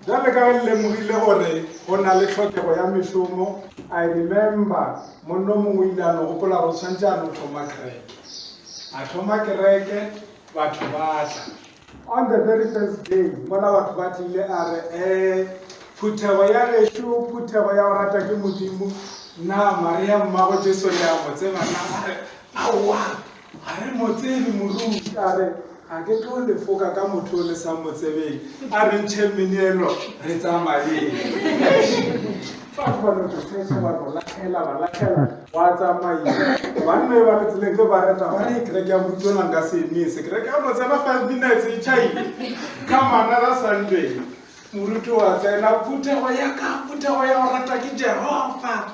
Bjale ka ge le lemogile gore go na le tlhokego ya mešomo, I remember monno mongwe o ile a no gopola gore o tshwanetse a no thoma kereke. A thoma kereke, batho ba tla. On the very first day, mola batho ba tlile a re, Ee, phuthego ya gešo, phuthego ya go rata ke Modimo. Na Maria Mmago Jesu le a mo tseba na? A re, Aowa! A re, Motsebe morui, ka re, Ga ke tlo le foka ka motho yo le sa mo tsebeng. A re, Ntšheng meneelo, re tsamayeng. Batho ba no to search-a, ba no latlhela, ba latlhela, gwa tsamaiwa. Banna yo ba re tseleng ge ba reta, ba re, Kereke ya Moruti yona nka se emise. Kereke ya mo tsena five minutes e chaile. Ka manala Sunday, Moruti wa tsena, phuthego ya ka, phuthego ya go rata ke Jehova.